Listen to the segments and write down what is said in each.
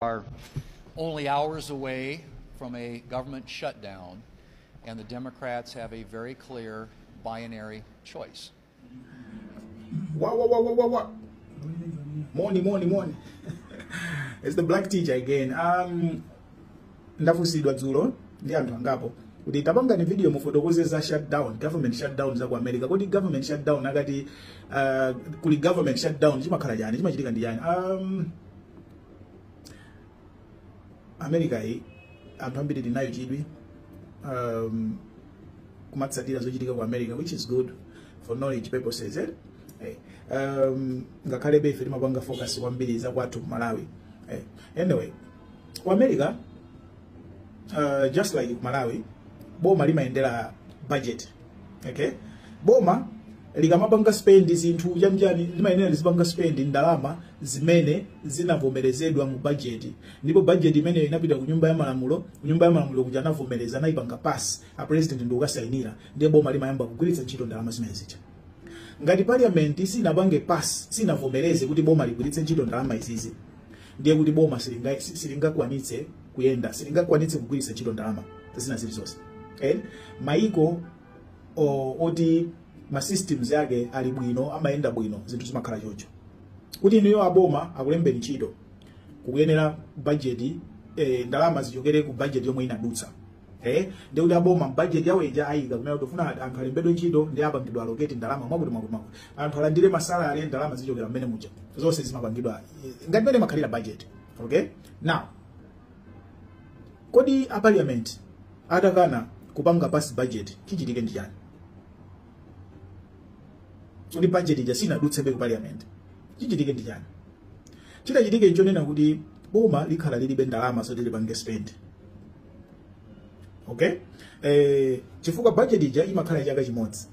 are only hours away from a government shutdown, and the Democrats have a very clear binary choice. Wah, wah, wah, wah, wah, wah. Morning, morning, morning. it's the black teacher again. Um, ndafunsidwa dzulo ndi anthu angapo kuti tapangani video mufotokoze za shutdown government shutdown za ku america kodi government shutdown akati uh, kuli government shutdown chimakhala chani chimachitika ndi chani um, america iyi anthu ambiri tili nacho chidwi um, kumatsatira zochitika ku america which is good for knowledge purposes eh? Eh, um, ngakhalebe ife timapanga focus kwambiri za kwathu ku malawi eh, anyway ku america uh, just like ku malawi boma limayendera budget okay boma likamapanga spend zinthu chanichani limayenera lizipanga spend ndalama zimene zinavomerezedwa mu budget ndipo budget imeneyo inapita ku nyumba ya malamulo ku nyumba ya malamulo kuja anavomereza anayipanga pass a president nkukasainira ndiye boma limayamba kugwiritsa ntchito ndalama zimene zija ngati parliament sinapange pass sinavomereze kuti boma ligwiritse ntchito ndalama izizi ndiye kuti boma silinga- si- silingakwanitse kuyenda silingakwanitse kugwiritsa ntchito ndalama zina zilizonse eh? maiko o- oti ma systems yake ali bwino amayenda bwino zinthu zimakhala chocho kuti inuyo aboma akulembeni ntchito ikuyenera bajeti eh, ndalama zichokere ku bajeti yomwe inadutsa eh ndiye kuti aboma mu budget yawo ija ayikamo kunena kuti tufuna kuti anthu alembedwe ntchito ndiye apange allocate ndalama mwakuti mwakuti mwakuti anthu alandire ma salary ndalama zichokera mmene muja zonse zimapangidwa eh, ngati mmene imakhalira budget okay now kodi a parliament atakana kupanga pass budget chichitike ndi chani kuti budget ija sinadutse ku parliament chichitike ndi chani chitachitike nchonena kuti boma likhala lilibe ndalama zoti lipange spend okay eh, chifukwa budget ija imakhala chaka chimodzi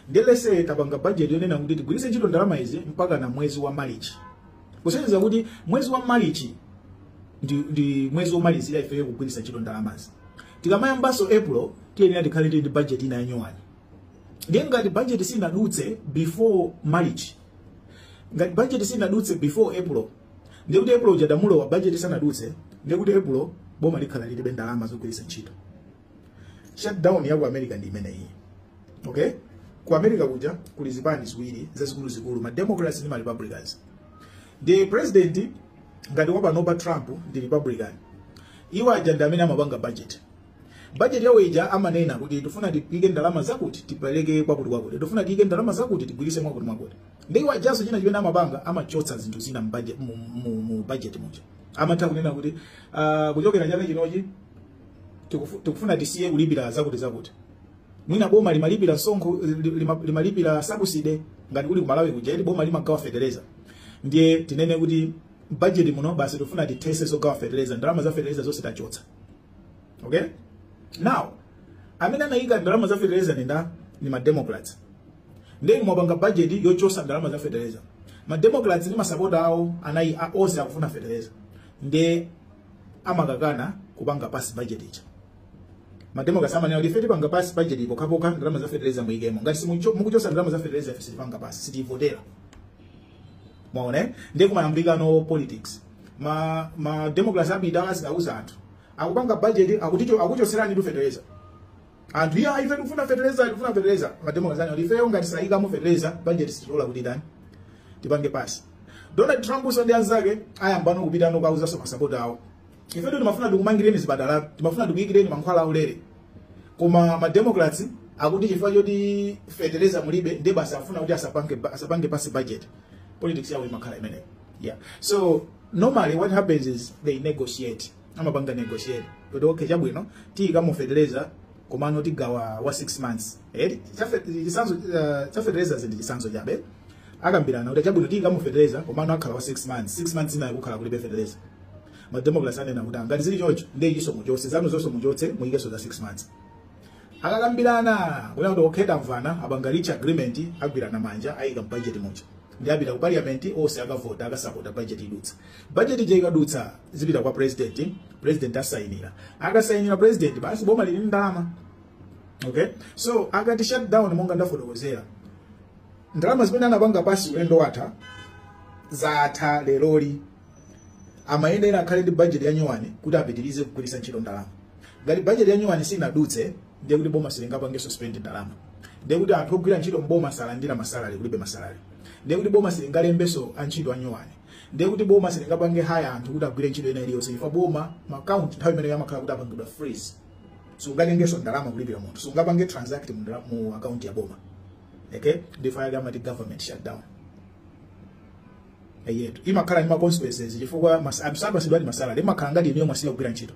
ndiye let's say tapanga budget yonena kuti tigwiritse ntchito ndalama izi mpaka na mwezi wa marichi kusonyeza kuti mwezi wa marichi ndi, ndi mwezi womalizira ifeyo kugwiritsa ntchito ndalamazi tikamayambanso april tiyenera tikhale tili ndi budget ina yanyowani ndiye ngati budget sinadutse before march ngati budget sinadutse before april ndiye kuti epulo uja ndamulowa bajeti sanadutse ndiye kuti epulo boma likhala lilibe ndalama zogwiritsa ntchito shutdown ya ku america ndi imeneyi okay ku america kuja kuli zipani ziwiri zazikuluzikulu ma democrats ndi ma republicans ndi president ngati wapanopa trump ndi republican iwo aja ndi amene amapanga budget bajeti yawo ija amanena kuti tifuna tiike ndalama zakuti tipereke kwakuti kwakuti tifuna tiike ndalama zakuti tigwirise mwakuti mwakuti ndiye iwo ajaso china chimene amapanga amachotsa zinthu zina mu budget- mu- mu- mu bajeti muja amatha kunena kuti ah, kuchokera chaka chinochi tikufu- tikufuna tisiye kulipira zakuti zakuti mwina boma limalipira sonkho li- lima- limalipira subsidy ngati kuli kumalawi kuja eti boma limagawa fetereza ndiye tinene kuti bajeti muno basi tifuna tithese zogawa fetereza ndalama za fetereza zonse tachotsa okay now amene anayika ndalama za feteleza ndi ndani ndi mademocrats nde mwapanga budget yochosa ndalama za feteleza mademocrats ndi masapota awo anayi a- onse akufuna feteleza nde amakakana kupanga pass budget ija mademocrats amanena kuti ife tipanga pass budget pokhapokha ndalama za feteleza muyikemo ngati simucho- mukuchosa ndalama za feteleza ife sitipanga pass sitivotera mwaona eh? ndiye kumayambikano politics ma ma democrats apita azikauza anthu akupanga budget akuticho akuchoseranitu fertilizer anthu iya ife tikufuna fertilizer tikufuna fertilizer ma democrats anati ifeyo ngati sayikamo fertilizer budget sitilola kuti tani tipange pass donald trumpso ndi anzake ayambano kupitano kukauzaso masapota awo ifetu timafuna tikumangireni zipatala timafuna tikuyikireni mankhwala aulere koma ma democrats akuti chifukwa choti feteleza mulibe nde basi afuna kuti asapange asapange pass budget politics yawo imakhala imeneyo yeah so normally what happens is they negotiate amapanga negotiate kuti okay chabwino tiyikamo feteleza komano tigawa wa 6 months eh chafe- chisanzo uh, chafeteleza ndi chisanzo chabe akambirana kuti chabwino tiyikamo feteleza komano akhala wa 6 months 6 months ina kukhala kulibe feteleza ma democrats anena kuti ngati zili choncho ndiye inuso muchotse zanu zonse muchotse muyikenso za 6 months akakambirana kuti kuti okay tamvana apanga reach agreement agwirana manja ayika budget muja nde apita ku parliament onse akavota akasapota budget idutsa budget ija ikadutsa zipita kwa president president asayinira akasayinira president basi boma lili ndi ndalama okay so akati shut down monga ndafotokozera ndalama zimene anapanga pass ulendo watha zatha leroli amayenera akhale ndi bajeti ya nyuwani kuti apitirize kugwiritsa ntchito ndalama ngati bajeti ya nyuwani sinadutse ndiye kuti boma silingapange suspend ndalama ndiye kuti anthu ogwira ntchito mboma salandira masalari kulibe masalari ndiye kuti boma silingalembenso antchito anyuwani ndiye kuti boma silingapange haya anthu kuti agwire ntchito ina iliyonse chifukwa boma maakaunti nthawi imeneyo amakhala kuti apangidwa freeze sungatengenso ndalama kulipira munthu sungapange transact mu ndala- mu akaunti ya boma okay ndifa yake amati government shutdown eyetu imakhala ndi ma consequences chifukwa mas- anthu sapasidwa ndi masalari imakhala ngati inuyo mwasiya kugwira ntchito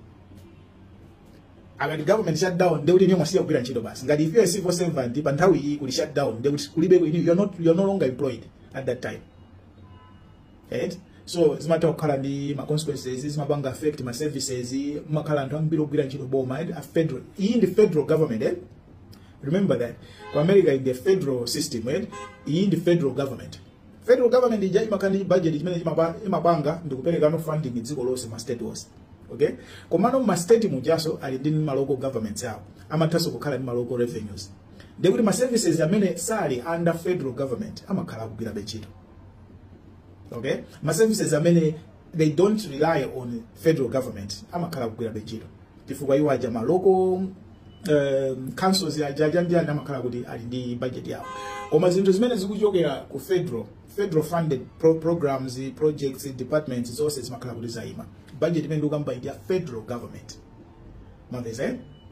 akati government shutdown ndekuti inuyo mwasiya kugwira ntchito basi ngati if you are a civil servant pa nthawi iyi kuli shutdown ndekuti kulibe inu you are not you are no longer employed at that time right so zimatha kukhala ndi ma consequences zimapanga affect ma services amakhala anthu ambiri ogwira ntchito mboma eh, a federal iyi ndi federal government eh? remember that ku america ndi federal system eh? iyi ndi federal government federal government chija chimakhala ndi chibudget chimene chimapa- chimapanga ndikuperekano funding dziko lonse ma state onse okay komano ma state mujaso ali ndi ma local governments awo amathanso kukhala ndi ma local revenues ndiye kuti ma services amene sali under federal government amakhala akugwirabe ntchito okay ma services amene they don't rely on federal government amakhala akugwira ntchito chifukwa iwo aja ma local um, councils aja aja ndani amakhala kuti ali ndi budget yawo koma zinthu zimene zikuchokera ku federal federal funded pro programs projects departments zonse zimakhala kuti zaima budget imene ndikukamba ndi ya federal government mwamvetsa eh?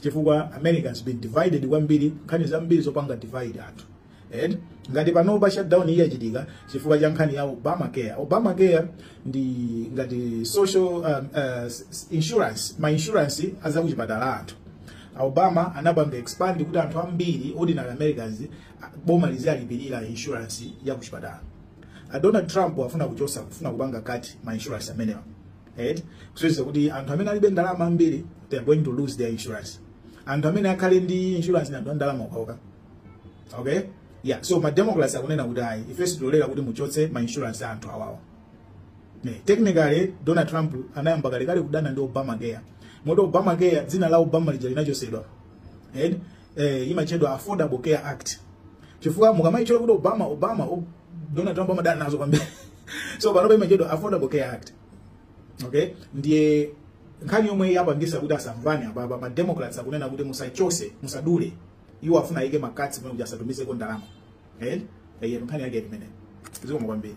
chifukwa america has been divided kwambiri nkhani zambiri zopanga divide anthu and ngati panopa shutdown iyi yachitika chifukwa cha nkhani ya obamacare obamacare ndi ngati social um, uh, s- s- insurance ma insurance azakuchipatala a anthu obama anapanga expand kuti anthu ambiri ordinary americans a- boma liziwalipirira insurance ya kuchipatala A donald trump afuna kuchosa kufuna kupanga cut ma insurance amenewa eti kusonyeza kuti anthu amene alibe ndalama ambiri they are going to lose their insurance anthu amene akhale ndi insurance ndi anthu a ndalama okhaoka okay yeah so ma democrats akunena kuti ayi ife sitilola kuti muchotse ma insurance a anthu awawa ne technically donald trump anayamba kalekale kudana ndi obama care moti obama care dzina la obama lija linachosedwa eti eh, imatchedwa affordable care act chifukwa mukamaitchula kuti obama obama o- donald trump amadana nazo kwambiri so panopa imatchedwa affordable care act okay ndiye nkhani yomwe yapangisa kuti asamvane apapa ma democrats akunena kuti musachose musadule iwo afuna ayike ma cuts pano kuti asatumizeko ndalama eh eh nkhani yake imeneyo zikomo kwambiri